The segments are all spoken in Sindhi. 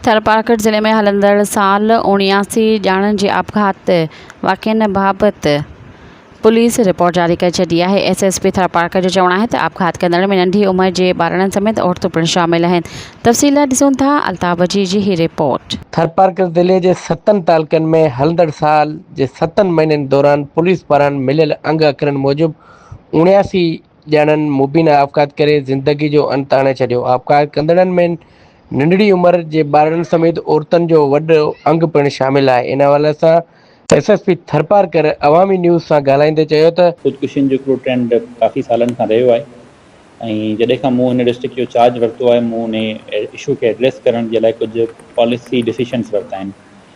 ٿرپارڪر ضلعي ۾ هلندڙ سال اڻياسي ڄاڻن جي آپگهات واقعن بابت پوليس رپورٽ جاري ڪري ڇڏي آهي. ايس ايس پي ٿرپارڪر جو چوڻ آهي ته آپگهات ڪندڙن ۾ ننڍي عمر جي ٻارڙن سميت عورتون پڻ شامل آهن. تفصيل لاء ڏسون ٿا الطاف وجيهي جي هي رپورٽ. ٿرپارڪر ضلعي جي ستن تعلقن ۾ هلندڙ سال جي ستن مهينن دوران پوليس پاران مليل انگ اکرن موجب اڻياسي، ڄڻن مبينا آپگهات ڪري زندگي جو انت آڻي ڇڏيو، آپگهات ڪندڙن ۾ ننڍڙي عمر جي ٻارڙن سميت عورتن جو وڏو انگ پڻ شامل آهي، ان حوالي سان S S P Tharparkar Awami news سان ڳالهائيندي چيو ته. خودڪشين جو هڪڙو ٽرينڊ ڪافي سالن کان رهيو آهي ۽ جڏهن کان مون هن ڊسٽرڪٽ جو چارج ورتو آهي مون ان اشو کي ايڊريس ڪرڻ جي لاء ڪجهه پاليسي ڊيسيشنز ورتا آهن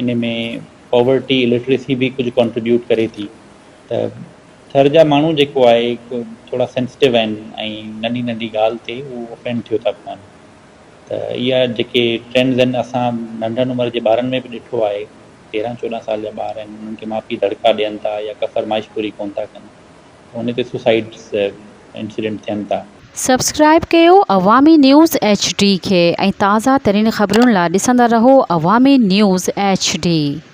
ان ۾ پاورٽي الٽريسي به ڪجهه ڪانٽريبيوٽ ڪري ٿي ته ٿر جا ماڻهو جيڪو آهي ٿورا سينسٽو آهن ۽ ننڍي ننڍي ڳالهه تي هو افينڊ ٿيو ٿا پون ته اها جيڪي ٽرينڊز آهن اسان ننڍن عمر جي ٻارن ۾ به ڏٺو آهي تيرهن چوڏهن سال جا ٻار آهن انهن کي ماء پيء دڙڪا ڏين ٿا يا ڪا فرمائش پوري ڪونه ٿا ڪن ان تي سوسائڊس انسيڊنٽ ٿين ٿا. سبسڪرائب ڪيو عوامي نيوز ايڇ ڊي کي ۽ تازه ترين خبرن لا ڏسندا رهو عوامي نيوز ايڇ ڊي.